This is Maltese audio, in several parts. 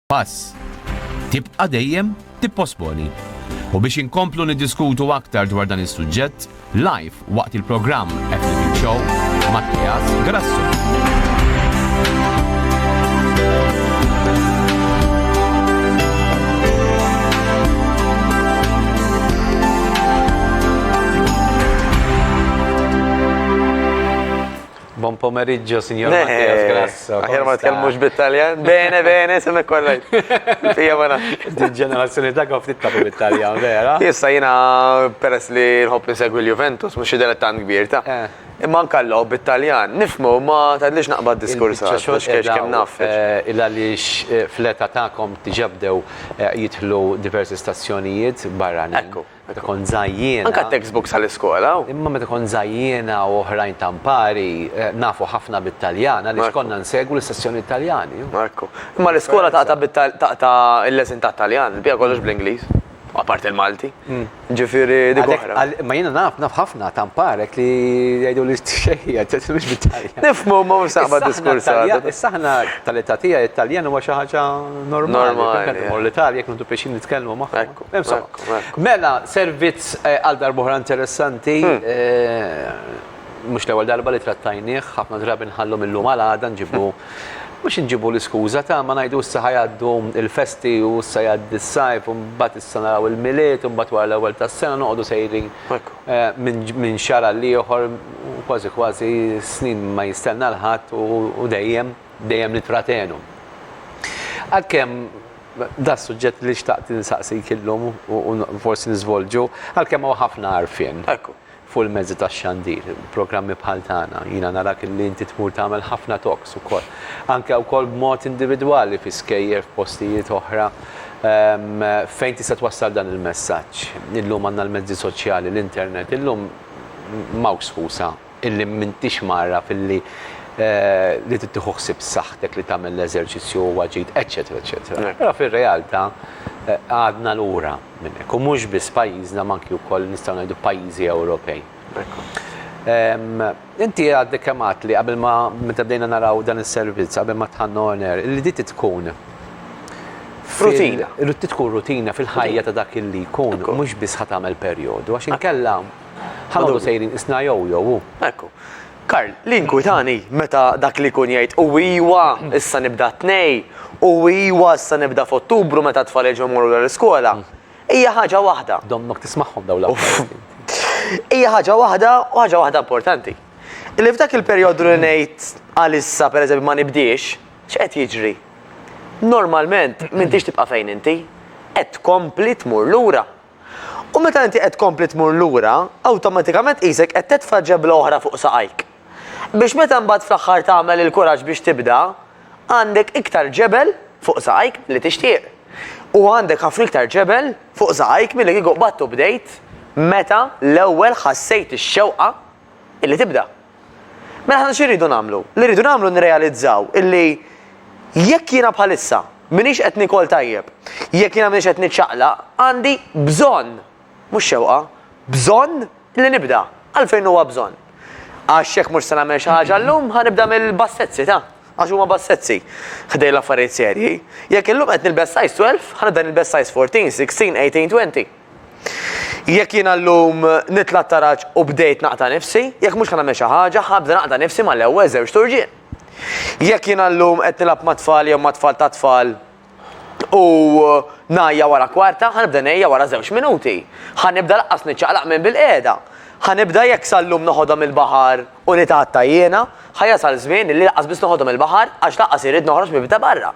Pass. Tibqa' dejjem tipposponi. U biex inkomplu niddiskutu aktar dwar dan is-suġġett, live waqt il-programm Epic Show, Mattias Grasso. Buon pomeriggio, signor Mattias Grasso. Aħjar ma tkellmux bit-Taljan. Bene, bene, semmek kollaj. Fija ma nafx. Dil-ġenerazzjoni ta' kif tittabu bit-Taljan, vera? Issa jina peress li nħobb insegwi l-Juventus, mux id tan kbir ta' eh. imma nkallaw bit-Taljan. Nifmu ma tadlix naqba d-diskurs għax kiex kem naf. Eh, illa li eh, fleta ta'kom tiġabdew jitħlu diversi stazzjonijiet barranin. Meta kont żgħajjiena. Anka t-textbooks għall-iskola. Imma meta kont żgħajjiena u oħrajn ta' mpari, nafu ħafna bit-Taljan għaliex konna nsegwu l-istazzjonijiet Taljani. Ekku. Imma l-iskola taqta' bit taqta' il-leżen tat-Taljan, il-bqija kollox bl-Ingliż. Apart il-Malti. Ġifieri dik oħra. Imma jiena naf, naf ħafna ta' mparek li jgħiduli xejn, ġiet mhux bit-Taljan. Nifhmu, imma mhux se naqbad diskors għad. Issa aħna tal-età tiegħi t-Taljan huwa xi ħaġa normali. Normali. Meta mmur l-Italja jekk nieħdu pjaċir nitkellmu magħhom. Ekku. Insomma. Mela, servizz għal darbohra interessanti. Mhux l-ewwel darba li trattajnieh, ħafna drabi nħallu mil-lum għal għada nġibu mhux inġibu l-iskuża ta' ma ngħidu issa ħa jgħaddu l-festi u issa jgħaddi s-sajf u mbagħad issa naraw il-Milied u mbagħad wara l-ewwel tas-sena noqogħdu sejrin minn xahar għal ieħor u kważi kważi s-snin ma jistenna 'l ħadd u dejjem, dejjem nittratenu. Għalkemm, Da s-suġġett li xtaqt insaqsik illum u forsi niżvolġu, għalkemm hawn ħafna għarfien. Ekku. Fuq il-mezzi tax-xandir, programmi bħal tagħna, jiena narak li inti tmur tagħmel ħafna talks ukoll. Anke wkoll b'mod individwali fi skejjel, f'postijiet oħra. Fejn tista' twassal dan il-messaġġ? Illum għandna l-mezzi soċjali, l-internet, illum m'hawnx skuża. illi m'intix mgħarraf illi li trid tieħu ħsieb saħħtek li tagħmel l-eżerċizzju huwa ġid, eċċetera eċċetera. Però fir-realtà għadna lura minn hekk. U mhux biss pajjiżna ma anki wkoll nistgħu ngħidu pajjiżi Ewropej. Inti għadek kemm għedt li qabel ma meta bdejna naraw dan is-servizz qabel ma dħalna on air li din trid tkun Rutina. Trid tkun rutina fil-ħajja ta' dak illi jkun mhux biss ħa tagħmel perjodu għax inkella Ħa noqogħdu sejrin qisna jew jew u. Ekku. Karl, li jinkwitani meta dak li jkun jgħid u iwa, issa nibda t-Tnejn, u iwa, issa nibda f'Ottubru meta t-tfal jerġgħu jmorru lura l-iskola, hija ħaġa waħda. Dommok tismagħhom dawn l-affarijiet int. Hija ħaġa waħda u ħaġa waħda importanti. Illi f'dak il-perjodu li ngħid għalissa pereżempju ma nibdiex, x'qed jiġri? Normalment m'intix tibqa' fejn inti. Qed tkompli tmur lura. U meta inti qed tkompli tmur lura, awtomatikament qisek qed tedfa' ġebla oħra fuq saqajk. Biex meta mbagħad fl-aħħar tagħmel il-kuraġġ biex tibda, għandek iktar ġebel fuq saqajk milli tixtieq. U għandek ħafna iktar ġebel fuq saqajk milli kieku qbadtu bdejt meta l-ewwel ħassejt ix-xewqa illi tibda. Mela aħna xi rridu nagħmlu? Li rridu nagħmlu nirrealizzaw illi jekk jiena bħalissa minix qed nikol tajjeb, jekk jiena minix qed niċċaqlaq, għandi bżonn, mhux xewqa, bżonn li nibda. Għalfejn huwa bżonn? Għax jekk mhux se nagħmel xi ħaġa llum ħanibda mill-bassezzi ta' għax huma bassezzi ħdej l-affarijiet serji. Jekk illum qed nilbes size 12, ħanibda nilbes size 14, 16, 18, 20. Jekk jiena llum nitla' t-taraġ u bdejt naqta' nifsi, jekk mhux ħa nagħmel xi ħaġa, ħabda naqta' nifsi mal-ewwel żewġt urġien. Jekk jiena llum qed nilgħab mat-tfal jew ma' tfal tat-tfal u ngħajja wara kwarta, ħa nibda ngħejja wara żewġ minuti. Ħa nibda laqqas niċċaqlaq minn bilqiegħda. Ħa nibda jekk sal-lum noħodhom il-baħar u nitgħatta jiena, ħa jasal żmien illi laqqas biss noħodhom il-baħar għax laqqas irrid noħroġ minn bibta barra.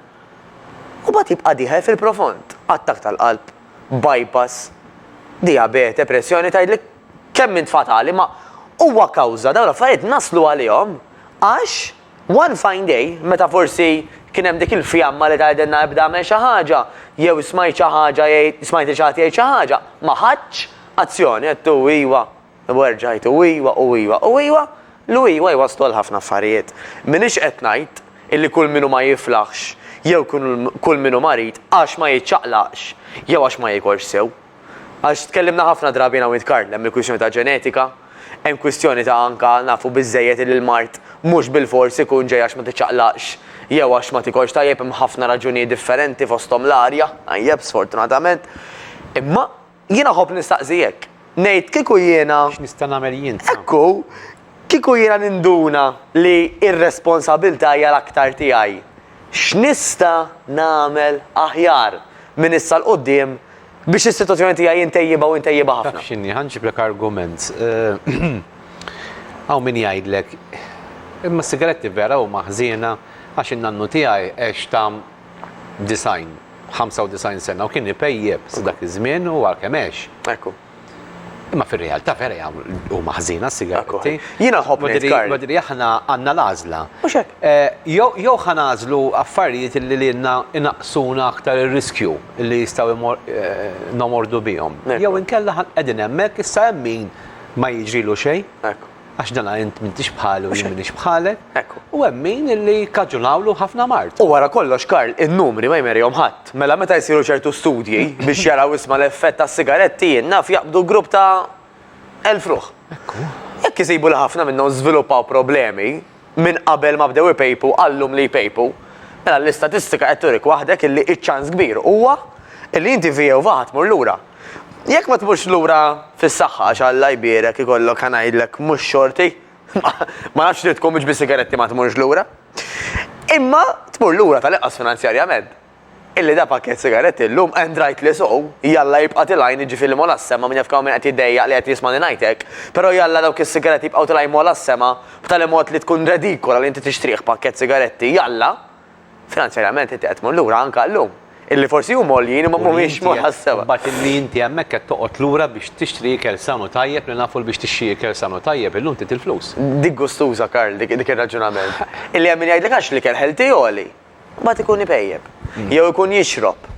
U mbagħad jibqa' dieħel fil-profond, attakk tal-qalb. bypass, dijabete, pressjoni tgħidlek kemm int fatali ma huwa kawża dawn l-affarijiet naslu għalihom għax one fine day meta forsi kien hemm dik il-fjamma li tgħidilna ibda agħmel xi ħaġa jew smajt xi ħaġa jgħid smajt lil xi ħadd jgħid xi ħaġa ma ħadtx azzjoni qed iwa U erġa' għid u ijwa u ijwa u ijwa. L-u ijwa jwasslu għal ħafna affarijiet. M'iniex qed ngħid illi kull min hu ma jiflaħx jew kull min hu marid għax ma jiċċaqlaqx jew għax ma jikolx sew. Għax tkellimna ħafna drabi jien hawn int Karl, hemm il-kwistjoni ta' ġenetika, hemm kwistjoni ta' anke nafu biżżejjed illi l-mard mhux bilfors ikun ġej għax ma tiċċaqlaqx jew għax ma tikolx tajjeb hemm ħafna raġunijiet differenti fosthom l-arja tajjeb sfortunatament. Imma. Jiena nħobb nistaqsi hekk. Ngħid kieku jiena. X'nista' nagħmel jien sa? Hekk hu, kieku jiena ninduna li r-responsabbiltà hija l-aktar tiegħi, x'nista' nagħmel aħjar minn issa 'l quddiem biex is-sitwazzjoni tiegħi intejjibha u intejjibha ħafna? Taf x'inhi, ħa nġiblek argument. Hawn min jgħidlek, Imma s-sigaretti vera huma ħżiena għax in-nannu tiegħi għex ta' 90, 95 sena u kien ipejjep sa dak iż-żmien u għalkemm għex. Ekku. Imma fir-realtà vera jagħmlu huma ħżina s-sigaretti. Jiena nħobb ngħid Karl. Madri aħna għandna l-għażla. Mhux hekk. Eh, jew ħa nagħżlu affarijiet li lilna inaqsuna aktar ir-riskju li jistgħu eh, nomordu bihom. Jew inkella qegħdin hemmhekk issa hemm min ma jiġrilu xejn. Ekku. għax dana int m'intix bħalu jien m'iniex bħalek, u hemm min li kkaġunawlu ħafna mard. U wara kollox Karl, in-numri ma jmerihom ħadd. Mela meta jsiru ċertu studji biex jaraw isma' l-effett tas-sigaretti jien naf jaqbdu grupp ta' elf ruħ. Jekk isibu li ħafna minnhom żviluppaw problemi, minn qabel ma bdew ipejpu għal llum li jpejpu, mela l-istatistika qed turik waħdek illi iċ-ċans kbir huwa illi inti f'Jehovah ħa tmur lura. Jekk ma tmurx lura fis-saħħa għax Alla jbierek ikollok ħa ngħidlek mhux xorti, ma nafx trid tkun mhux bis-sigaretti ma tmurx lura, imma tmur lura tal-inqas finanzjarjament. Illi da pakkett sigaretti llum and rightly so, jalla jibqa' tilgħin jiġifieri mola s-sema min jaf kemm hawn min qed jiddejjaq li qed jismagħni ngħid hekk, però jalla dawk is-sigaretti jibqgħu tilgħin mola s-sema b'tali mod li tkun redikola li inti tixtrih pakkett sigaretti jalla finanzjarjament inti qed tmur lura anke llum illi forsi huma għoljin imma mhumiex mola s-sema. Imbagħad illi inti hemmhekk qed toqgħod lura biex tixtri ikel san u tajjeb li nafu li biex tixtri ikel san u tajjeb illum trid il-flus. Dik gustuża Karl dik ir-raġunament. Illi hemm min jgħidlek għax l-ikel healthy għoli. Mbagħad ikun ipejjeb. Mm. Jew ikun jixrob.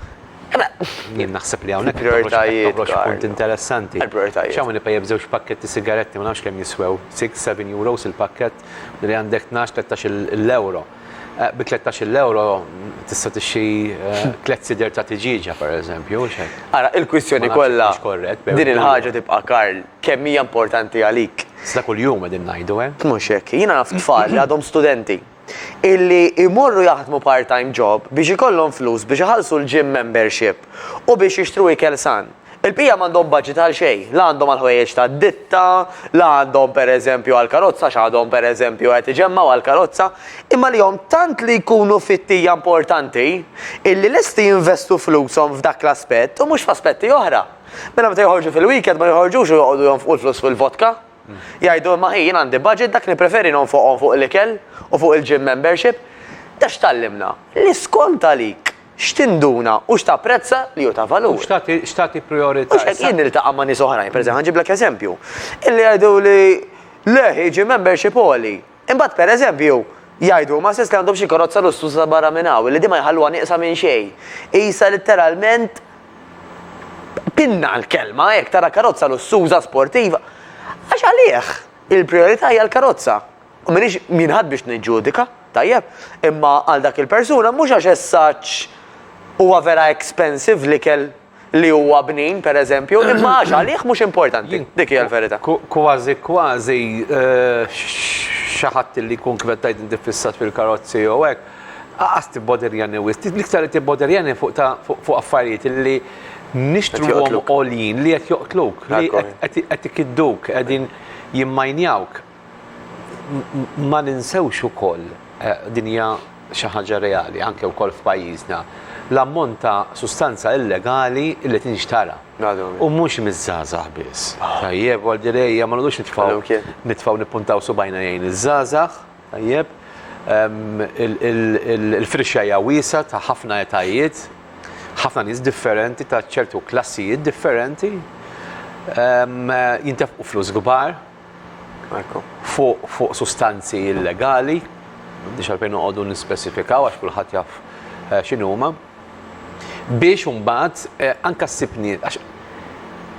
Jien naħseb li hawnhekk prioritajiet punt interessanti. X'hawn ipejjeb żewġ pakketti sigaretti ma nafx kemm jiswew 6-7 euros il-pakkett li għandek 12-13 l-euro. Eh, bi 13 l-euro tista' tixxi eh, tliet sider ta' tiġiġa pereżempju. Ara, il-kwistjoni kollha din il-ħaġa tibqa' Karl kemm hija importanti għalik. Sa kuljum qegħdin ngħidu, eh? Mhux hekk, jiena naf tfal li għadhom studenti illi jmorru jaħdmu part-time job biex ikollhom flus biex iħallsu l-gym membership u biex jixtru ikel san. Il-bqija m'għandhom budget għal xejn, la għandhom għall-ħwejjeġ tad-ditta, la għandhom pereżempju għall-karozza għax għadhom pereżempju qed iġemmgħu għall-karozza, imma lihom tant li jkunu fit-tija importanti illi lesti jinvestu flushom f'dak l-aspett u mhux f'aspetti oħra. Mela meta joħorġu fil-weekend ma joħorġux u joqogħdu jonfqu l-flus fil-vodka. Jgħidu imma hi jien għandi budget dak nippreferi nonfoqhom fuq l-ikel u fuq il-gym membership. Dan x'tgħallimna? Li skont għalik x'tinduna u x'tapprezza li hu ta' valur. U x'tagħti prijorità. Mhux hekk jien niltaqa' ma' nies oħrajn, pereżempju ħa nġiblek eżempju, illi jgħiduli le hi gym membership għoli. Imbagħad, per eżempju, jgħidu huma stess li għandhom xi karozza lussuża barra minn hawn, li din ma jħalluha nieqsa minn xejn. Qisha litteralment pinna l-kelma, jekk tara karozza lussuża, sportiva. Għax għalih il-prijorità hija l-karozza. U m'iniex jien ħadd biex niġġudika, tajjeb? Imma għal dak il-persuna mhux għax as-saġġ huwa vera expensive l-ikel, li huwa bnin, per eżempju, imma għax għalih mhux importanti. Dik hija l-verità. Kważi kważi xi ħadd li jkun kif qed tgħid inti fissat fil-karozzi jew hekk, qas tibboderjani wisq. L-iktar li tibboderjani fuq ta' fuq affarijiet li nixtruhom għoljin li qed joqtluk, li qed ikidduk, qegħdin jimmajnjawk. Ma ninsewx ukoll, din hija xi ħaġa reali anke wkoll f'pajjiżna, l-ammont ta' sustanza illegali li tinxtara. U mhux miż-żgħażagħ biss. Tajjeb, u għaldir ejja ma noqgħodux nitfgħu nitfgħu nippuntaw subgħajna lejn iż-żgħażagħ, tajjeb, il-firxa hija wiesgħa ta' ħafna etajiet, ħafna nies differenti ta' ċertu klassijiet differenti, jintefqu flus kbar. fuq sustanzi illegali, m'għandniex għalfejn noqogħdu nispesifikaw għax kulħadd jaf eh, x'inhuma, biex imbagħad eh, anke ssibni għax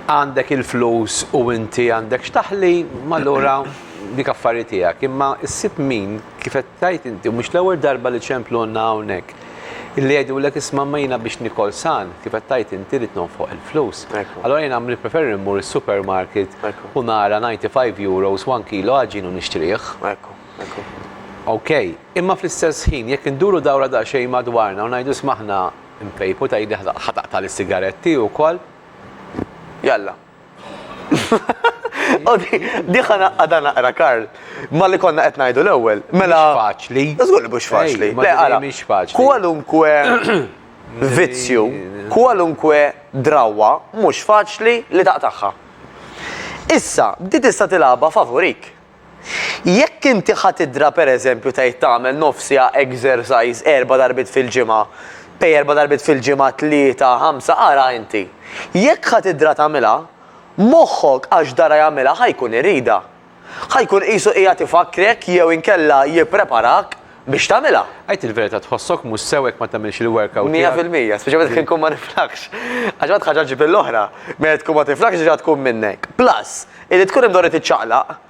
għandek il-flus u inti għandek xtaħli, mallura dik affarijiet tiegħek. Imma ssib min kif qed tajt inti mhux l-ewwel darba li ċemplu għandna hawnhekk. Illi jgħidulek isma' imma jiena biex nikol san, kif qed tgħid inti, rrid nonfoq il-flus. Allura jiena nippreferi mmur is-supermarket u nara 95 euros one kilo għaġin u nixtrih. Ok, imma fl-istess ħin jekk induru dawra daqsxejn madwarna u ngħidu isma' aħna npejpu tgħidli ħa taqta' lis-sigaretti wkoll? Jalla. U di, diħa naqqada naqra, Karl. Ma li konna qed ngħidu l-ewwel. Mela. Mhux faċli. Żgur li mhux faċli. Le, ara. Mhux faċli. Kwalunkwe vizzju, kwalunkwe drawwa mhux faċli li taqtagħha. Issa, di tista' tilgħabha favorik. Jekk inti ħa tidra pereżempju tgħid tagħmel nofs siegħa exercise erba' darbiet fil-ġimgħa, pej erba' darbiet fil-ġimgħa tlieta, ħamsa, ara inti. Jekk ħa tidra tagħmilha, moħħok għax dara jagħmilha ħa jkun iridha. Ħa jkun qisu qiegħed ifakkrek jew inkella jippreparak biex tagħmilha. Għid il-verità tħossok mhux sew jekk ma tagħmilx il-workout tiegħek? Mija fil-mija, speċjalment jekk inkun ma niflaħx. Għax meta ħaġa ġġib lill-oħra, meta tkun ma tiflaħx diġà tkun minnek. Plus, illi tkun imdorri tiċċaqlaq,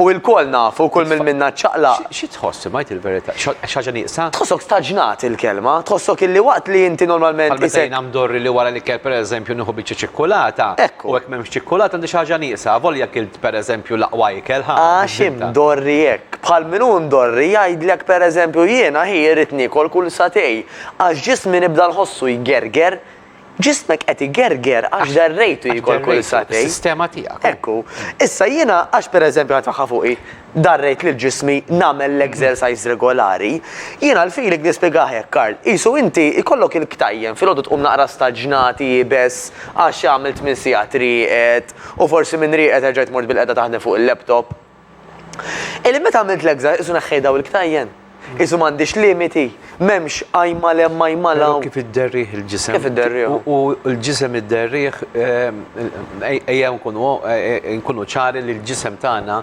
u ilkoll nafu, kull min minna ċċaqlaq. Xi tħoss imma għid il-verità? Xi ħaġa nieqsa? Tħossok staġnat il-kelma, tħossok illi waqt li inti normalment. Bħal meta jiena mdorri li wara l-ikel pereżempju nieħu biċċa ċikkulata. Ekku. U jekk m'hemmx ċikkulata għandi xi ħaġa nieqsa, avolja kilt. Per eżempju l-aqwa ikel, ħa? Għax imdorri hekk. Bħal min hu mdorri jgħidlek per eżempju jiena hi irrid niekol kull sagħtej għax ġismi nibda nħossu jgerger. Ġismek qed igerger għax derrejtu jiekol kull sagħtejn. Għax derrejtu, is-sistema tiegħek. Hekk hu. Issa jiena għax per eżempju ħa tfaħħa fuqi. Darrejt lil ġismi nagħmel l-exercise regolari. Jiena l-feeling nispjegaha hekk, Karl. Qisu inti jkollok il-ktajjen, filgħodu tqum naqra staġnati, iebes, għax għamilt tmien sigħat rieqed, u forsi minn rieqed erġajt mort bilqiegħda taħdem fuq il-laptop. Illi meta għamilt l-exercise qisu neħħejt dawn il-ktajjen. Isu m'għandhiex limiti, m'hemmx għajma l hemm għajma l hawn. Kif idderrih il-ġisem. Kif idderrih. U l-ġisem idderrih, ejja nkunu ċari li l-ġisem tagħna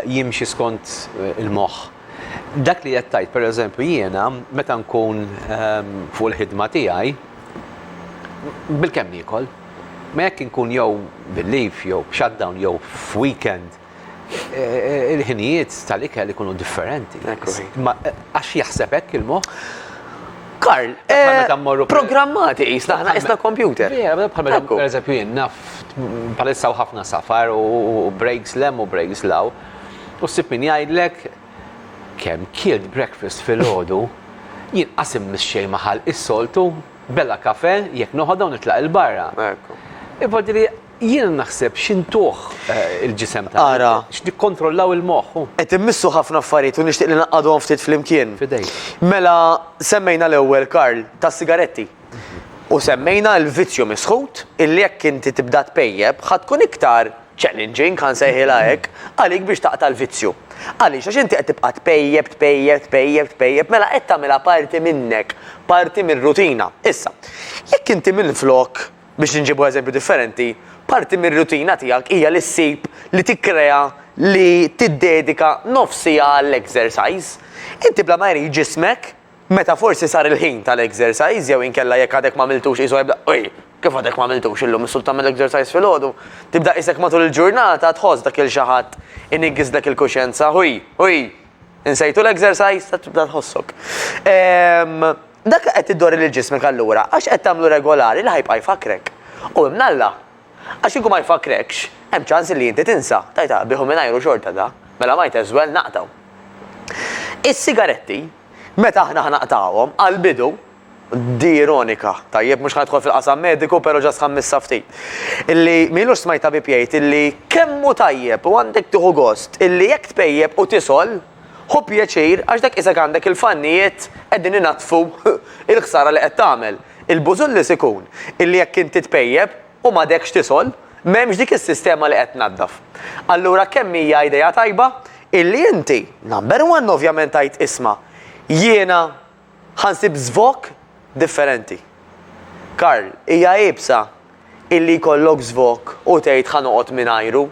jimxi skont il-moħħ. Dak li qed tgħid, pereżempju, jiena meta nkun fuq il-ħidma tiegħi, bilkemm niekol. Ma jekk inkun jew bil-leave, jew b'shutdown, jew f'weekend, il-ħinijiet tal-ikel ikunu differenti. Għax jaħseb hekk il-moħħ. Karl, eh, programmati jisna, ħna jisna kompjuter. Per eżempju, jien naf palissa ħafna safar u breaks lem u breaks law. U sib min jgħidlek kem kilt breakfast fil-ħodu, jien qasim mis-xej maħal is-soltu, bella kafe, jek noħodha u nitlaq il-barra. Iva Jiena naħseb x'intuh il-ġisem tagħna. Ara. X'nikkontrollaw il-moħħ. Qed immissu ħafna affarijiet u nixtieq li ngħaqqadhom ftit flimkien. F'idejk. Mela, semmejna l-ewwel, Karl, tas-sigaretti. U semmejna l-vizzju misħut illi jekk inti tibda tpejjep ħa tkun iktar challenging, ħa nsejħilha hekk, għalik biex taqta' l-vizzju. Għaliex? Għax inti qed tibqa' tpejjep, tpejjep, tpejjep, tpejjep, mela qed tagħmilha parti minnek, parti mir-rutina. Issa, jekk inti minflok biex inġibu eżempju differenti, parti mir-rutina tiegħek hija li ssib, li tikkrea, li tiddedika nofs siegħa għall-exercise. Inti bla ma jrid ġismek, meta forsi sar il-ħin tal-exercise jew inkella jekk għadek m'għamiltux qisu jibda, Oj, kif għadek m'għamiltux illum, is-solit tagħmel exercise filgħodu? Tibda qisek matul il-ġurnata tħoss dak il-xi ħadd iniggżlek il-kuxjenza, Oj, oj! Insejtu l-exercise ta' tibda tħossok. Ehm, dak li qed tiddori lil ġismek allura għax qed tagħmlu regolari li ħajbqa' jfakkrek. U hemm l-Alla. Għax kieku ma jfakkrekx, hemm ċans li inti tinsa. Tajt għaqbih u mingħajru xorta da. Mela might as well naqtgħu. Is-sigaretti, meta aħna ħnaqtgħuhom, għall-bidu, Di ironika. Tajjeb, mhux ħa nidħol fil-qasam mediku, però ġast ħammissa ftit. Illi m'ilux smajt tabib jgħid illi kemm hu tajjeb u għandek tieħu gost illi jekk tpejjep u tisgħol, ħu pjaċir għax dak qisek għandek il-fannijiet qegħdin inaddfu l-ħsara li qed tagħmel. Il-bużullis ikun illi jekk inti tpejjep u m'għadekx tisgħol, m'hemmx dik is-sistema li qed tnaddaf. Allura kemm hija idea tajba illi inti, number one ovvjament tgħid isma', jiena, Ħa nsib żvok differenti. Karl, Hija iebsa illi jkollok żvok u tgħid ħa noqgħod mingħajru.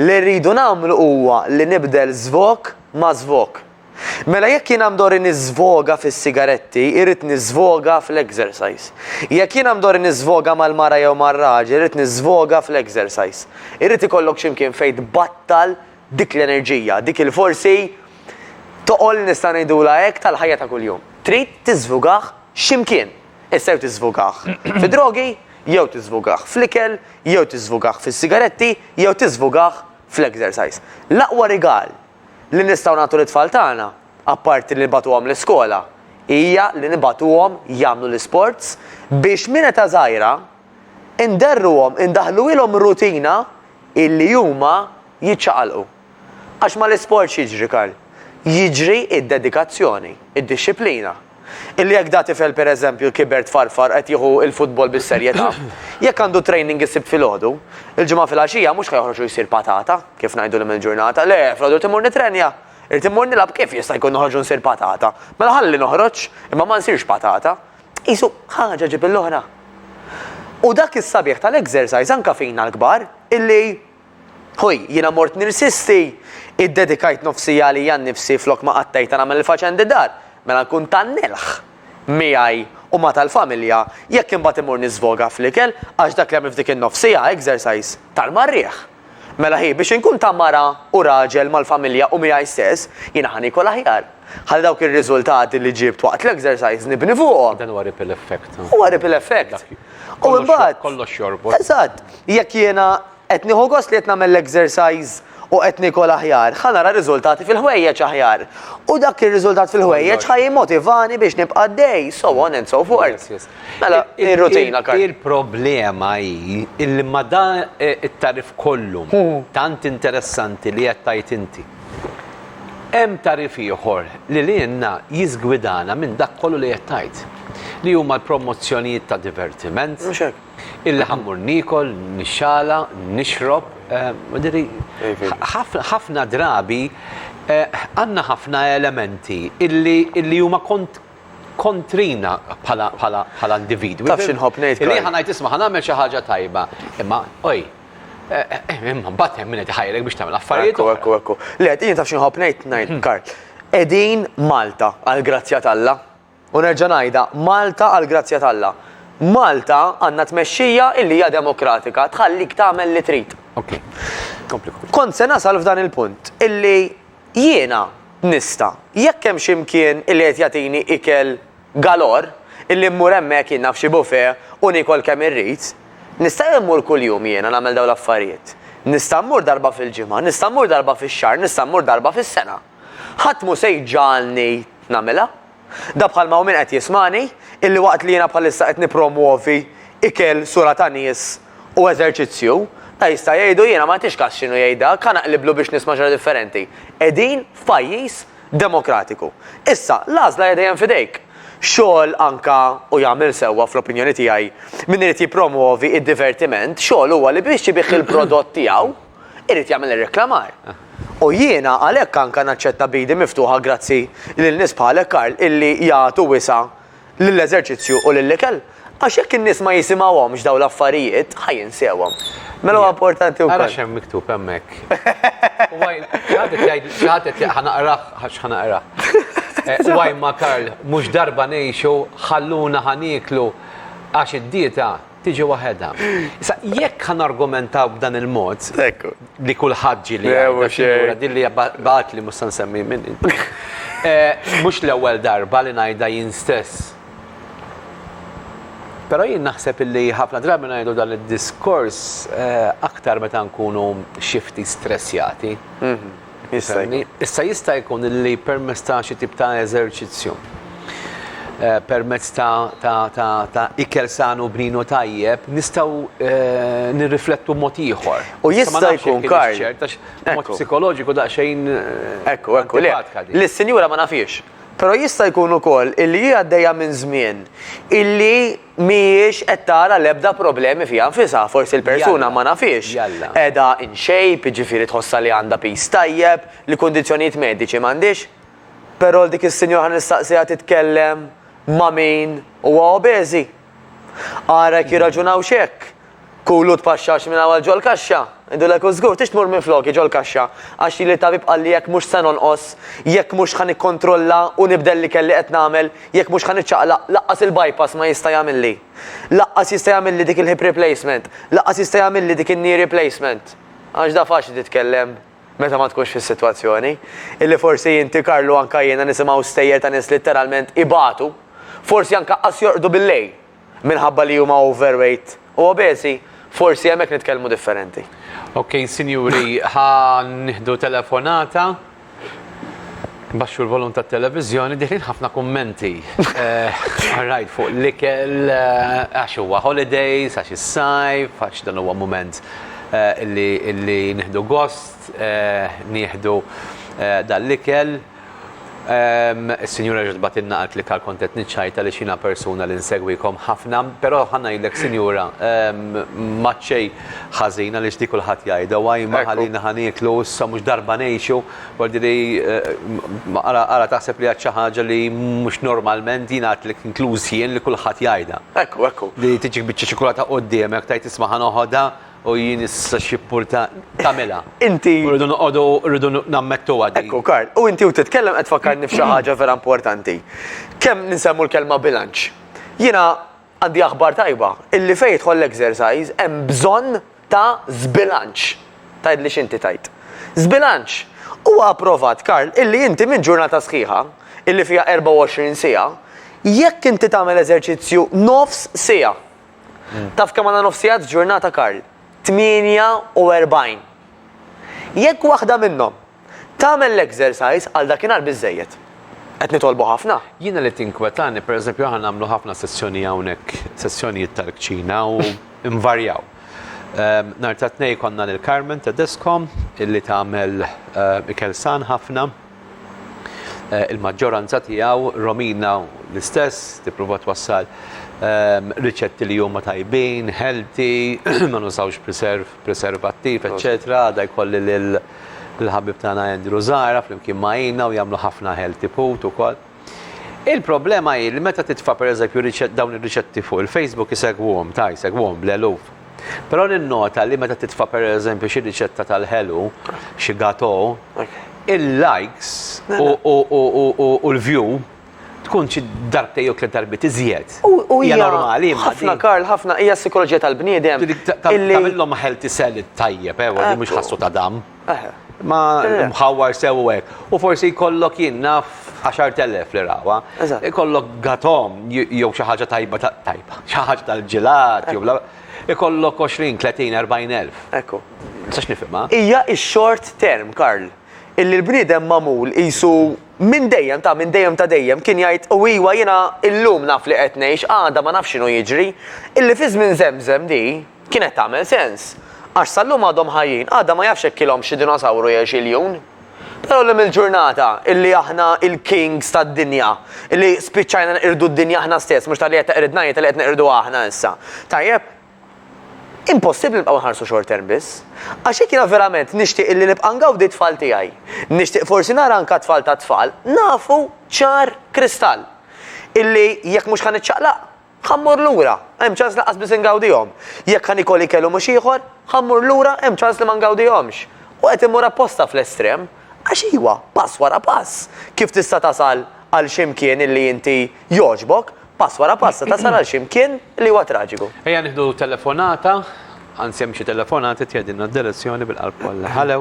Li rridu nagħmlu huwa li nibdel żvok ma' żvok. Mela jekk jiena mdorri niżvoga fis-sigaretti, irrid niżvoga fl-exercise. Jekk jiena mdorri niżvoga mal-mara jew mar-raġel, irrid niżvoga fl-exercise. Irrid ikollok xi mkien fejn tbattal Dik l-enerġija, dik il-forsi toqol nista' ngħidulha hekk tal-ħajja ta' kuljum. Trid tiżvugah x'imkien. Issa jew tiżvugah fid-drogi, jew tiżvugah fl-ikel, jew tiżvugah fis-sigaretti, jew tiżvugah fl-exercise. L-aqwa rigal li nistgħu nagħtu lit-tfal tagħna, apparti li nibagħtuhom l-iskola, hija li nibagħtuhom jagħmlu l-isports biex minn età żgħira, inderruhom, indaħħluhilhom rutina illi huma jiċċaqalqu. Għax mal-isport x'jiġri Karl? Jiġri d-dedikazzjoni, id-dixxiplina. Illi jekk da tifel pereżempju kiber tfarfar qed jieħu l-futbol bis-serjetà, jekk għandu training is-Sibt filgħodu, il-Ġimgħa filgħaxija mhux ħa joħroġ u jsir patata, kif ngħidu l-lum il-ġurnata, le, filgħodu rrid immur nittrenja, irrid immur nilgħab kif jista' jkun noħroġ u nsir patata? Mela ħalli noħroġ, imma ma nsirx patata, Qisu, ħaġa ġib l-oħra. U dak is-sabiħ tal-exercise anke fina l-kbar, illi, ħuj, jiena mort nirsisti, iddedikajt nofsi għalija nnifsi flok ma qattejtha nagħmel il-faċendi dar, mela nkun ta' nelħ miegħi u ma' tal-familja jekk imbagħad immur niżvoga fl-ikel għax dak li għamilt f'dik in-nofsija, exercise, tal-marrieħ. Mela hi, Biex inkun ta' mara u raġel mal-familja u miegħi stess, jiena ħa niekol aħjar. Ħalli dawk ir-riżultati li ġibt waqt l-exercise nibni fuqhom. Dan huwa ripple effect. Huwa ripple effect. Dak hi. U imbagħad. Kollox jorbot. Eżatt. Jekk jiena qed nieħu gost li qed nagħmel l-exercise u qed niekol aħjar, ħa nara riżultati fil-ħwejjeġ aħjar. U dak ir-riżultat fil-ħwejjeġ ħa jimmotivani biex nibqa' għaddej, so on and so forth. Mela, ir-rutina għall-karnijiet. Il-problema hi illi ma' dan it-tagħrif kollu tant interessanti li qed tgħid inti, hemm tagħrif ieħor li lilna jiżgwidana minn dak kollu li qed tgħid, li huma l-promozzjonijiet ta' divertiment, illi ħa mmur niekol, nixxala, nixrob, jiġifieri, ħafna drabi għandna ħafna elementi illi huma kontrina bħala individwi. Taf x'inħobb ngħid. Li ħa ngħid isma' ħa nagħmel xi ħaġa tajba, imma oj, imma mbagħad hemm min qed iħajrek biex tagħmel affarijiet. Ekku, ekku, ekku. Le, qed jien taf x'inħobb ngħid ngħid, mhm. Karl. Qegħdin Malta għall-grazzja t'Alla. U nerġa' ngħidha, Malta għall-grazzja t'Alla. Malta għandna tmexxija illi hija demokratika, tħallik tagħmel li trid. Kompli. Kont se nasal f'dan il-punt illi Jiena nista', jekk hemm xi mkien illi qed jagħtini ikel galore, illi mmur hemmhekk jien naf xi buffet u niekol kemm irrid, nista' jien mmur kuljum jiena nagħmel dawn l-affarijiet? Nista' mmur darba fil-ġimgħa, nista' mmur darba fix-xahar, nista' mmur darba fis-sena? Ħadd mhu se jġagħalni nagħmilha. Da bħalma hu min qed jismagħni, illi waqt li jiena bħalissa qed nippromwovi ikel, sura ta' nies u eżerċizzju, da jista' jgħidu, jiena ma nagħtix kas x'inhu jgħid dak, ħa naqliblu biex nisma' xi ħaġa differenti. Qegħdin f'pajjiż demokratiku. Issa, l-għażla hija dejjem f'idejk. Xogħol anka, u jagħmel sewwa fl-opinjoni tiegħi, min irid jippromwovi d-divertiment, xogħlu huwa li biex ibigħ il-prodott tiegħu, irid jagħmel ir-reklamar. U jiena għalhekk anke naċċetta b'idi miftuħa grazzi lil nies bħalek Karl illi jagħtu wisa' lill-eżerċizzju u lill-ikel. Għax jekk in-nies ma jisimgħuhomx dawn l-affarijiet, ħa jinsewhom. Mela huwa importanti wkoll. Ara x'hemm miktub hemmhekk. Xi ħadd qed jgħid, xi ħadd qed ħa naqrah għax ħa naqrah. Huwa imma Karl, mhux darba ngħixu, ħalluna ħa nieklu għax id-dieta, tiġi waħedha. Issa jekk ħa nargumentaw b'dan il-mod, li kulħadd ġieli jgħidha, din li bagħatli mhux se nsemmi min. Mhux l-ewwel darba li ngħidha jien stess. Però jien naħseb illi ħafna drabi ngħidu dan id-diskors aktar meta nkunu xi ftit stressjati. Issa jista' jkun li permezz ta' xi tip ta' eżerċizzju, eh, permezz ta' ikel sanu bninu tajjeb, nistgħu eh, nirriflettu mod ieħor. U jista' jkun kar. Mod psikoloġiku daqsxejn. Eh, ekku, ekku, le. Li s-sinjura ma nafiex. Pero jista' jkun ukoll illi hija għaddejja minn żmien illi mhijiex qed tara l-ebda problemi fiha nfisha, forsi l-persuna ma nafhiex, qiegħda in shape, jiġifieri tħossha li għandha piż tajjeb, li kundizzjonijiet mediċi m'għandhiex, però 'l dik is-sinjora ħa nistaqsiha titkellem ma' min huwa obeżi. Ara jekk jirraġunawx hekk. Kulu tpaxxax minn hawn għal ġol-kaxxa, ngħidulek u żgur, tix tmur minfloki ġol-kaxxa, għax lili t-tabib qalli jekk mhux se nonqos, jekk mhux ħa nikkontrolla u nibdel l-ikel li qed nagħmel, jekk mhux ħa niċċaqlaq, lanqas il-bypass ma jista' jagħmilli. Lanqas jista' jagħmilli dik il-hip replacement, lanqas jista' jagħmilli dik in-knee replacement. Għax da faċli titkellem meta ma tkunx fis-sitwazzjoni. Illi forsi inti Karlu anka jiena nisimgħu stejjer ta' nies litteralment ibatu, forsi anka qas jorqdu bil-lejl. minħabba li huma overweight u obeżi, forsi hemmhekk nitkellmu differenti. Ok, sinjuri, ħa nieħdu telefonata. Baxxu l-volum tat-televiżjoni, dieħlin ħafna kummenti. Rajt fuq l-ikel għax huwa holidays, għax is-sajf, għax dan huwa mument li nieħdu gost, nieħdu dan l-ikel. Ehm, is-Sinjura ġiet tbagħtilna qaltli li kal kont qed niċċajt għaliex jiena persuna li nsegwikom ħafna, però ħa ngħidlek Sinjura, ehm, m'għad xejn ħażin għaliex di kulħadd jgħidha, why ma ħalina ħa nieklu issa mhux darba ngħixu, voglidhi eh, ara ara taħseb li għad xi ħaġa li mhux normalment jiena għadtlek inkluż jien li kulħadd jgħidha. Ekku, ekku. Li tiġik biċċa ċokolata quddiemek tgħid isma' ħa noħodha, U jien issa xippurta tagħmilha. Inti. U rridu noqogħdu rridu nammettuha din. Ekku Karl, u inti u titkellem qed tfakkarni f'xi ħaġa vera importanti. Kemm ninsemmu l-kelma bilanċ. Jiena għandi aħbar tajba, illi fejn jidħol l-exercise hemm bżonn ta' żbilanċ. Tgħidli x'inti tgħid. Żbilanċ! Huwa approvat Karl illi inti minn ġurnata sħiħa, illi fiha 24 siegħa, jekk inti tagħmel eżerċizzju nofs siegħa, Taf kemm għandna nofs sigħa f'ġurnata Karl? 48. Jekk waħda minnhom tagħmel l-exercise għal dakinhar biżżejjed. Qed nitolbu ħafna? Jiena li tinkwetani, pereżempju aħna nagħmlu ħafna sessjoni hawnhekk, sessjonijiet tal-kċina u nvarjaw. Nhar tat-Tnejn konna lil Carmen Tedesco illi tagħmel ikel san ħafna. il-maġġoranza tiegħu Romina l-istess tipprova twassal ehm, riċetti li huma tajbin, healthy, ma nużawx preserv, preservattiv, eċċetera, għadha jkolli lil il-ħabib tagħna Andrew Zara flimkien ma' u jagħmlu ħafna healthy food ukoll. Il-problema hi li meta titfa' pereżempju riċe- dawn ir-riċetti fuq il-Facebook isegwuhom, ta' jsegwuhom bl-eluf. Però ninnota li meta titfa' pereżempju xi riċetta tal-ħelu, xi gateau, il-likes u, u, u, u, u, u l-view tkun xi darbtejn jew tliet darbiet iżjed. U, u Hija hija. normali imma Ħafna, din. Karl, ħafna. Hija s-sikoloġija tal-bniedem Dik ta- ta- illi. Tagħmilhom healthy sell it-tajjeb, ewwa, li mhux Ekku. ħassu ta' dam. Eħe. Ma mħawwar sew u hekk. U forsi jkollok jien naf 10,000 li rawha. Eżatt. Ikollok gatom jew xi ħaġa tajba ta' tajba, xi ħaġa tal-ġilat jew bla. Ikollok 20, 30, 40,000. Ekku. Ma nistax nifhimha. Hija x-short term, Karl. Illi l-bniedem magħmul qisu minn dejjem ta' minn dejjem ta' dejjem kien jgħid u iwa jiena illum naf li qed ngħix, għada ma nafx x'inhu jiġri. Illi fi żmien Żemżem di. Kienet tagħmel sens. Għax sal-lum għadhom ħajjin, għada ma jafx jekk ilhomx xi dinosawru jew xi ljun. Però llum il-ġurnata, illi aħna il-kings tad-dinja, illi spiċċajna neqirdu d-dinja aħna stess, mhux talli qed teqridna hi, talli qed neqirduha aħna issa. Tajjeb, impossibbli nibqgħu nħarsu short term biss. Għax jekk jiena verament nixtieq illi nibqa' ngawdi t-tfal tiegħi, nixtieq forsi nara anka t-tfal tat-tfal, nafu ċar kristall illi jekk mhux ħa niċċaqlaq, Ħa mmur lura, hemm ċans lanqas biss ingawdihom. Jekk ħa nikol ikel u mhux ieħor, ħa mmur lura, hemm ċans li ma ngawdihomx. U qed immur apposta fl-estrem. Għax iwa, pass wara pass, kif tista' tasal għal xi mkien illi inti jogħġbok, pass wara pass se tasal għal xi mkien li huwa traġiku. Ejja nieħdu telefonata, anzi hemm xi telefonati tgħidilna d-direzzjoni bil-qalb kollha. Hallo.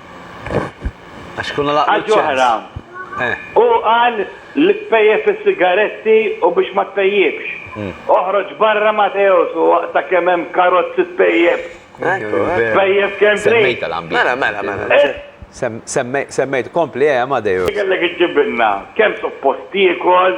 Għax kuna laqgħu. Għal ġoħra. Eh. U qal li tpejjep is-sigaretti u biex ma tpejjipx. Hmm. Oħroġ barra Mateos u waqta kemm hemm karozzi tpejjep. Tpejjep kemm trid. Semmejta l-ambjent. Mela, mela, mela. Eh? Semmejt kompli eh Amadeus. Kellek iġġibilna kemm suppost jiekol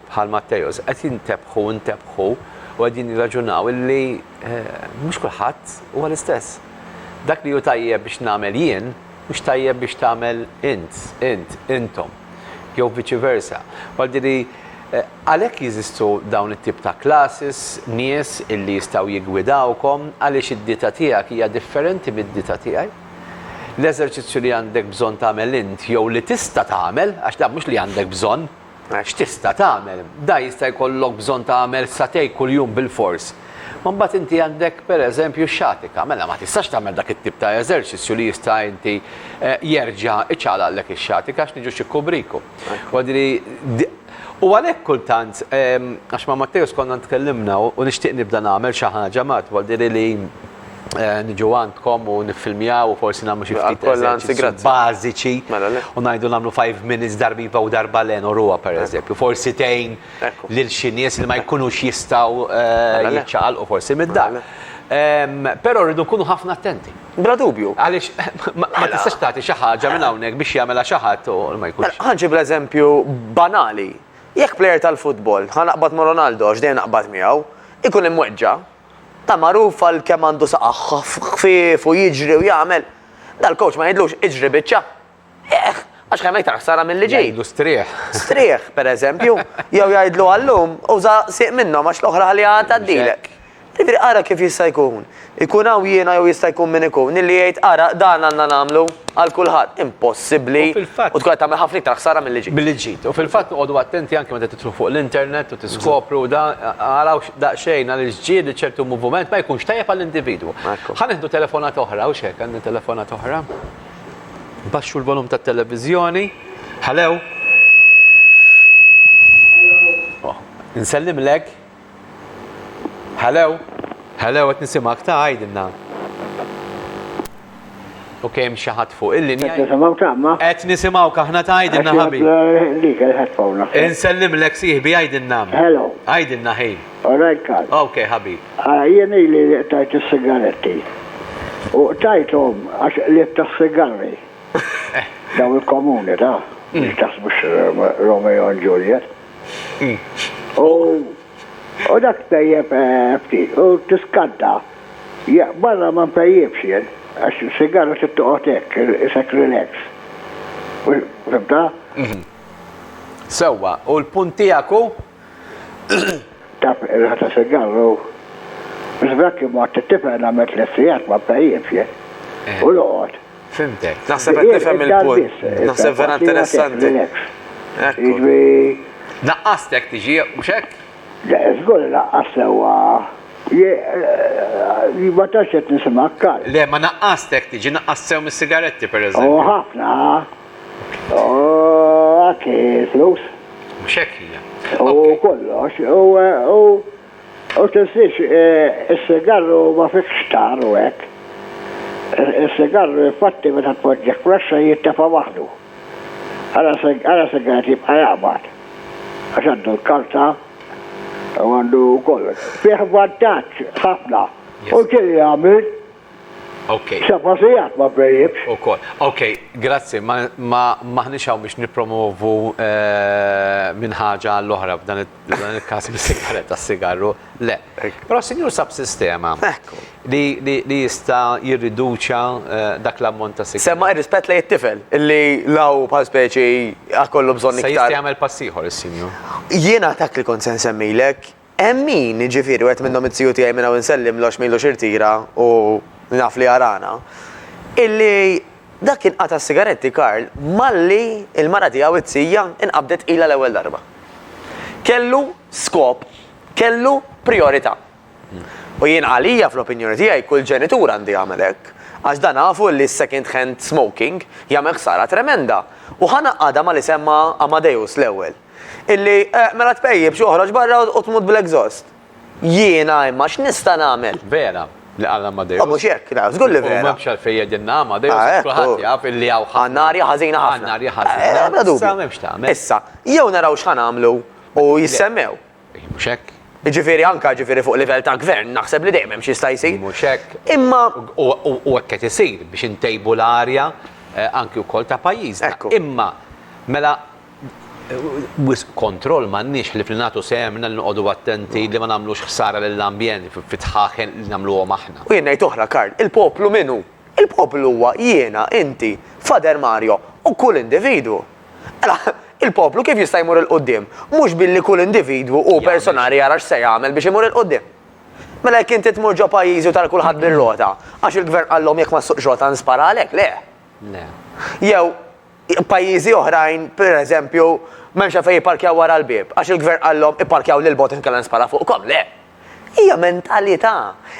bħal Matteus, qed jintebħu u ntebħu u qegħdin jirraġunaw illi mhux kulħadd huwa l-istess. Dak li hu tajjeb biex nagħmel jien, mhux tajjeb biex tagħmel int, int, intom, jew viċi versa. Għaldi li għalhekk jeżistu dawn it-tip ta' classes, nies illi jistgħu jiggwidawkom għaliex id-dieta tiegħek hija differenti mid-dieta tiegħi. L-eżerċizzju li għandek bżonn tagħmel int jew li tista' tagħmel, għax dan mhux li għandek bżonn, X'tista' tagħmel? Dan jista' jkollok bżonn tagħmel satej kuljum bilfors. Ma mbagħad inti għandek, pereżempju, xatika. Mela ma tistax tagħmel dak it-tip ta' eżerċizzju li jista' inti jerġa' iċagħlaqlek ix-xatika għax niġu xi kubriku. U għalhekk kultant, għax ma' Matteus konna tkellimna u nixtieq nibda nagħmel xi ħaġa, Matt, niġu għandkom u niffilmjaw u forsi nagħmlu xi ftit eżerċizzji bażiċi mela, u ngħidu nagħmlu 5 minutes darbiva u darba le noruha pereżempju. Forsi tgħin lil xi nies li ma jkunux jistgħu mela, jiċċaqalqu forsi mid-dar. Mela, Però rridu nkunu ħafna attenti. Bla dubju. Għaliex ma mela. tistax tagħti xi ħaġa minn hawnhekk biex jagħmilha xi ħadd u ma jkunx. Ħanġib l-eżempju banali. Jekk plejer tal-futbol, ħa naqbad ma' Ronaldo għax dejjem naqbad miegħu, ikun imweġġa' Ta' magħruf għal kemm għandu saqajh ħfief u jiġri u jagħmel, dal-kowċ ma jgħidlux iġri biċċa. Eħ, għax kemm iktar ħsara milli ġid. Jgħidlu strieħ. Strieħ, pereżempju. Jew jgħidlu għal lum uża sieq minnhom għax l-oħra ħalliha għad tgħaddilek. Jiġifieri ara kif jista' jkun. Ikun hawn jiena jew jista' jkun min ikun illi jgħid ara dan għandna nagħmlu għal kulħadd. Impossibbli u tkun qed tagħmel ħafna iktar ħsara milli ġid. Milli ġid. U fil-fatt noqogħdu attenti anke meta tidħlu fuq l-internet u tiskopru da ara daqsxejn għaliex ġieli ċertu muvument ma jkunx tajjeb għall-individwu. Ekku. Ħa nieħdu telefonata oħra, hux hekk għandna telefonata oħra. Baxxu l-volum tat-televiżjoni. Hello. Oh, Nsellimlek. Hello. Hello, qed nisimgħek ta' għidilna. U kemm xi ħadd fuq il-linja. Qed nisimgħu tama? Qed nisimgħuk aħna tgħidilna ħabib. Insellimlek sieħbi għidilna. Hello. Għidilna ħi. All right Karl. Ok ħabib. Jien ili li qtajt is-sigaretti. U qtajthom għax qlibt tas-sigarri. Dawn il-komuni ta' biex taħsbux Romeo and Juliet. U dak tejjeb ftit u tiskanta Jah, barra ma npejjipx jien, għax sigara trid toqgħod hekk, isek relax. Fhimtha? Sewwa, u l-punt tiegħek hu? Taf, ir-riħa ta' sigarr u. Żbrakki mort it-tifel nagħmel tliet sigħat ma npejjipx jien. U noqgħod. Fhimtek. Naħseb qed nifhem il-punt. Naħseb vera interessanti. Relax. Jiġifieri. Naqqast jekk tiġi, mhux hekk? Żgur inaqqas sewwa. Jien ma tantx qed nisimgħek, Karl. Le, ma naqqast hekk tiġi, naqqast sew mis-sigaretti, pereżempju. Hu ħafna. Hu anki l-flus. Mhux hekk hija. Hu kollox. U tinsiex, is-sigarru ma fihx tar u hekk. Is-sigarru infatti meta tpoġġih fl-għaxxa jintefa' waħdu. Ara se ara se qed jibqa' jaqbad. Għax għandu l-karta u għandu kollox. Fih vantaġġ ħafna. U kien jagħmel Okay. seba' sigħat ma bejjibx. Ukoll. Okay, grazzi. Ma ma m'aħniex hawn biex nippromovu eh, minn ħaġa għall-oħra f'dan it F'dan il-każ bis-sigaretta, s-sigarru le. Però s-Sinjur sab sistema li jista' jirriduċja dak l-ammont ta' sigarri. Semma ir-rispett lejn it-tifel, li la hu bħal speċi a kollu bżonn iktar. Se jista' jagħmel pass ieħor is-Sinjur. Jiena dak li kont se nsemmilek, hemm min, jiġifieri wieħed minnhom it-tiju tiegħi minn hawn insellmlu għax m'ilux irtira u naf li jarana, illi, Dak kien qata' s-sigaretti Karl malli l-mara tiegħu t-tija nqabdet ilha l-ewwel darba. Kellu skop, kellu prijorità. U jien għalija fl-opinjoni tiegħi kull ġenitur għandu jagħmel hekk, għax dan nafu li s-second hand smoking jagħmel ħsara tremenda. U ħa ngħaqqadha ma' li semma Amadeus l-ewwel, illi mela tpejjipx oħroġ barra u tmut bl-exhaust. Jiena imma x'nista' nagħmel? Vera li qal Amadeus. Mhux hekk, żgur li vera. U m'hemmx għalfejn jgħidilna Amadeus għax kulħadd jaf illi hawn ħafna. Għandna arja ħażina ħafna. Għandna arja ħażina. Bla dubju. Issa m'hemmx tagħmel. Issa, jew naraw x'ħa nagħmlu u jissemmew. Mhux hekk. Jiġifieri anke jiġifieri fuq livell ta' gvern naħseb li dejjem hemm x'jista' jsir. Mhux hekk. Imma. U hekk qed isir biex intejbu l-arja anke wkoll ta' pajjiżna. Imma mela wisq kontroll m'għandniex ħlief li nagħtu sehemna li noqogħdu attenti li ma nagħmlux ħsara lill-ambjent fid-dħaħen li nagħmluhom aħna. U jien ngħid oħra, Karl, il-poplu min hu? Il-poplu huwa jiena, inti, Fader Mario u kull individwu. Mela, il-poplu kif jista' jmur 'il quddiem? Mhux billi kull individwu hu personali jara x'se jagħmel biex imur 'il quddiem. Mela jekk inti tmur ġo pajjiżi u tara kulħadd bir-rota, għax il-gvern qallhom jekk ma ssuqx rota nsparalek, le. Le. Jew, Pajjiżi oħrajn, pereżempju, m'hemmx għalfejn jipparkjaw wara l-bieb, għax il-Gvern qalhom ipparkjaw lil bogħod inkella nispara fuqkom. Le! Hija mentalità,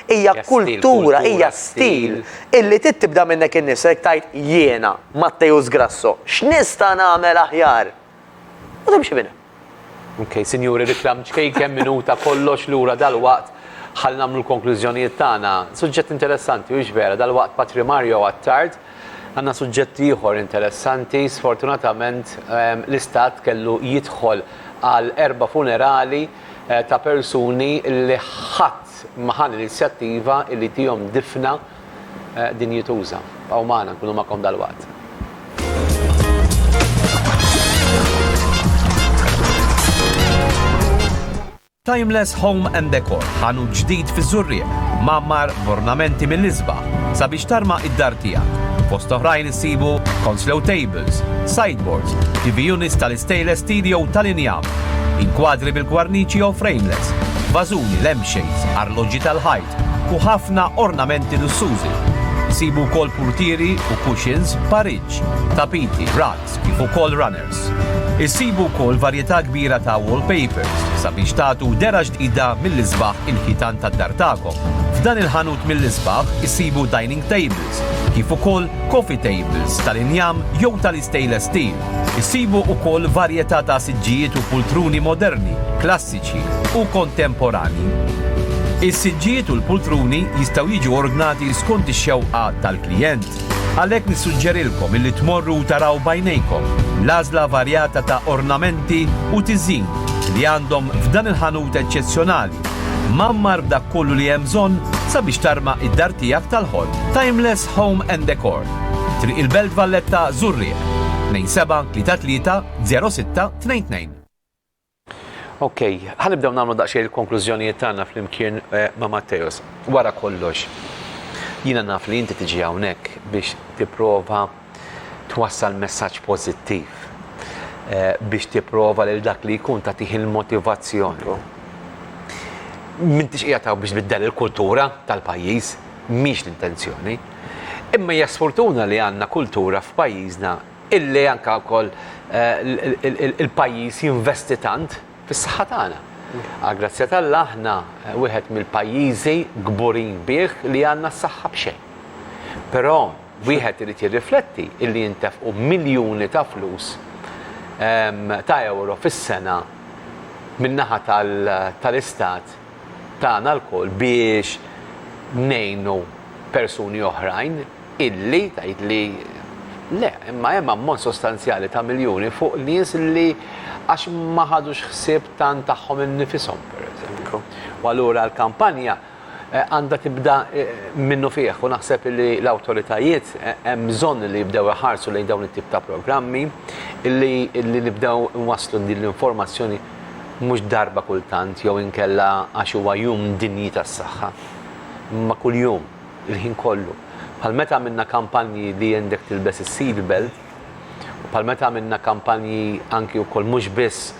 hija kultura, hija stil illi trid tibda minnek innifsek tgħid jiena, Matteus Grasso, x'nista' nagħmel aħjar? U timxi minn hemm. Ok, sinjuri, riklam ċkejken, minuta, kollox lura dalwaqt ħalli nagħmlu l-konklużjonijiet tagħna. Suġġett interessanti, hux vera, dalwaqt Patri Mario Attard għandna suġġett ieħor interessanti, sfortunatament ehm, l-Istat kellu jidħol għal erba' funerali eh, ta' persuni li ħadd maħan l-inizjattiva li tihom difna dinjituża. Bqgħu magħna, nkunu magħkom dalwaqt. Timeless Home and Decor, ħanut ġdid fiż-Żurrieq, mgħammar b'ornamenti mill-isbaħ sabiex tarma id-dar tiegħek. Fost oħrajn issibu console tables, sideboards, TV units tal-istainless steel jew tal-injam, inkwadri bil-kwarniċi jew frameless, vażuni, lampshades, arloġġi tal-ħajt, u ħafna ornamenti lussużi. Isibu wkoll purtieri u cushions b'pariġġ, tapiti, rugs kif ukoll runners. Issibu wkoll varjetà kbira ta' wallpapers sabiex tagħtu dehra ġdida mill-isbaħ inħitan tad-dar tagħkom. F'dan il-ħanut mill-isbaħ issibu dining tables kif ukoll coffee tables tal-injam jew tal-istainless steel. Issibu wkoll varjetà ta' siġġijiet u pultruni moderni, klassiċi u kontemporanji. Is-siġġijiet u l-pultruni jistgħu jiġu ordnati skont ix-xewqa tal-klijent. Għalhekk nissuġġerilkom illi tmorru u taraw b'għajnejkom l-għażla varjata ta' ornamenti u tiżin li għandhom f'dan il-ħanut eċċezzjonali, mgħammar b'dak kollu li hemm bżonn sabiex tarma id-dar tiegħek tal-ħolm. Timeless Home and Decor, Triq il-Belt Valletta, Żurrieq, 2733 06 22. Okej, ħa nibdew nagħmlu daqsxejn il-konklużjonijiet tagħna flimkien ma' Matteus. Wara kollox, jiena naf li inti tiġi hawnhekk biex tipprova twassal messaġġ pożittiv, biex tipprova lil dak li jkun tagħtih il-motivazzjoni. M'intix qiegħed hawn biex tbiddel il-kultura tal-pajjiż, mhix l-intenzjoni. Imma hija sfurtuna li għandna kultura f'pajjiżna illi anke wkoll il-pajjiż jinvesti tant fis-saħħa tagħna. Għall-grazzja t'Alla aħna wieħed mill-pajjiżi kburin bih li għandna s-saħħa b'xejn. Però wieħed irid jirrifletti illi jintefqu miljuni ta' flus ta' ewro fis-sena min-naħa tal-Istat tagħna lkoll biex ngħinu persuni oħrajn illi tgħidli le, imma hemm ammont sostanzjali ta' miljuni fuq nies li għax ma ħadux ħsieb tant tagħhom innifishom pereżempju. U allura l-kampanja eh, għandha tibda eh, minnu fih u naħseb li l-awtoritajiet eh, hemm bżonn li jibdew iħarsu lejn dawn it-tip ta' programmi illi nibdew nwasslu din l-informazzjoni mhux darba kultant jew inkella għax huwa jum dinji tas-saħħa, imma kuljum, il-ħin kollu. Bħal meta għamilna kampanji li għendek tilbes is-seat belt, u bħal meta għamilna kampanji anki wkoll mhux biss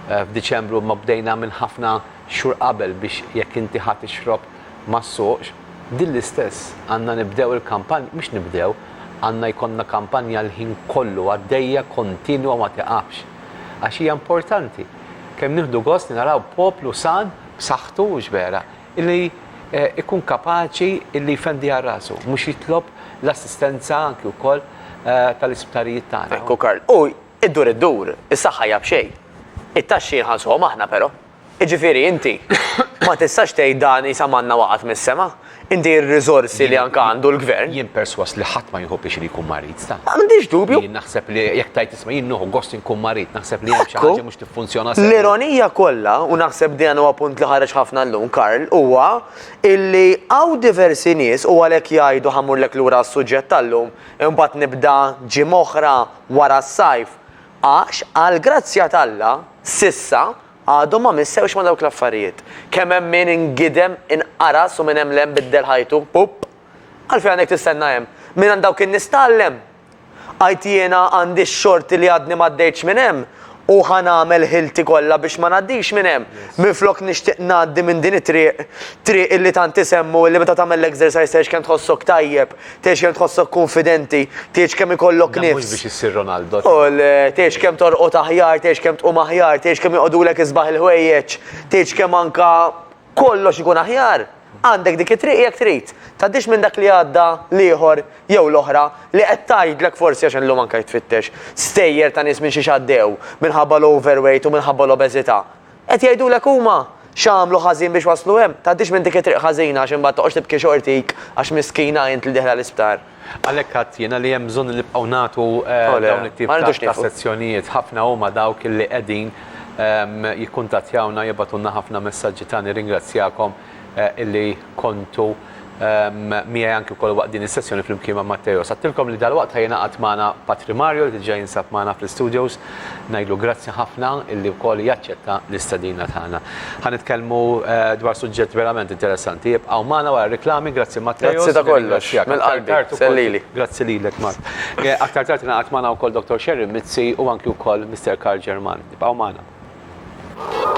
f'Diċembru imma bdejna minn ħafna xhur qabel biex jekk inti ħa tixrob ma ssuqx, din l-istess għandna nibdew il-kampanja, mhux nibdew, għandna jkollna kampanja l-ħin kollu għaddejja kontinwa ma tiqafx. għax hija importanti. Kemm nieħdu gost li naraw poplu san, b'saħħtu, mhux vera, illi ikun kapaċi illi jfendi għal rasu, mhux jitlob l-assistenza anki wkoll tal-isptarijiet tagħna. Ekku Karl, u iddur iddur, is-saħħa hija b'xejn. It-taxxi nħallsuhom aħna però. Jiġifieri inti ma tistax tgħid dan isa manna waqgħet mis-sema. Inti r-riżorsi li anke għandu l-Gvern. Jien persważ li ħadd ma jieħu pjaċir li jkun marid, ta'. Ma għandix dubju. Jien naħseb li jekk tgħid isma' jien nieħu gost inkun marid, naħseb li hemm xi ħaġa mhux tiffunzjona sew. L-ironija kollha, u naħseb dan huwa punt li ħareġ ħafna llum, Karl, huwa illi hawn diversi nies u għalhekk jgħidu ħa mmurlek lura għas-suġġett tal-lum, imbagħad nibda ġimgħa oħra wara s-sajf, Għax, għall-grazzja t'Alla, s'issa, għadhom ma missewx ma' dawk l-affarijiet. Kemm hemm min ingidem, inqaras u minn hemm 'l hemm biddel ħajtu. Pupp! Għalfejn għandek tistenna hemm? Mingħand dawk in-nies tgħallem! Għidt jiena għandi x-xorti li għadni m'għaddejtx minn hemm u ħa nagħmel ħilti kollha biex ma ngħaddix minn hemm, minflok nixtieq ngħaddi minn din it-triq, triq illi tant isemmu, illi meta tagħmel l-exercise tgħix kemm tħossok tajjeb, Tgħix kemm tħossok kunfidenti, tgħix kemm ikollok nifs. Mhux biex issir Ronaldo. U tgħix kemm torqod aħjar, tgħix kemm tqum aħjar, tgħix kemm joqogħdulek isbaħ il-ħwejjeġ, tgħix kemm anka kollox ikun aħjar. Għandek dik it-triq jekk trid. Tgħaddix minn dak li għadda l-ieħor jew l-oħra li qed tgħidlek forsi għax illum anke jitfittex stejjer ta' nies minn xi x'għaddew minħabba l-overweight u minħabba l-obeżità. Qed jgħidulek huma x'għamlu ħażin biex waslu hemm. Tgħaddix minn dik it-triq ħażina għax imbagħad toqgħodx tibki xortik għax miskina int li dieħla l-isptar. Għalhekk għidt jiena li hemm bżonn li nibqgħu nagħtu dawn it-tip ta' sezzjonijiet. Ħafna huma dawk li qegħdin jikkuntattjawna, jibgħatulna ħafna messaġġi ta' nirringrazzjakom illi kontu miegħi anki wkoll waqt din is-sessjoni flimkien ma' Matteos. Għadtilkom li dalwaqt ħa jingħaqad magħna Patri Mario li diġà jinsab magħna fl-istudios. Ngħidlu grazzi ħafna illi wkoll jaċċetta l-istedina tagħna. Ħa nitkellmu dwar suġġett verament interessanti. Ibqgħu magħna wara r-riklami. Grazzi Matteos. Grazzi ta' kollox. Minn qalbi. Sellili. Grazzi lilek Mark. Aktar tard ingħaqad magħna wkoll Dottor Sherry Mizzi u anki wkoll Mister Karl German. Ibqgħu magħna.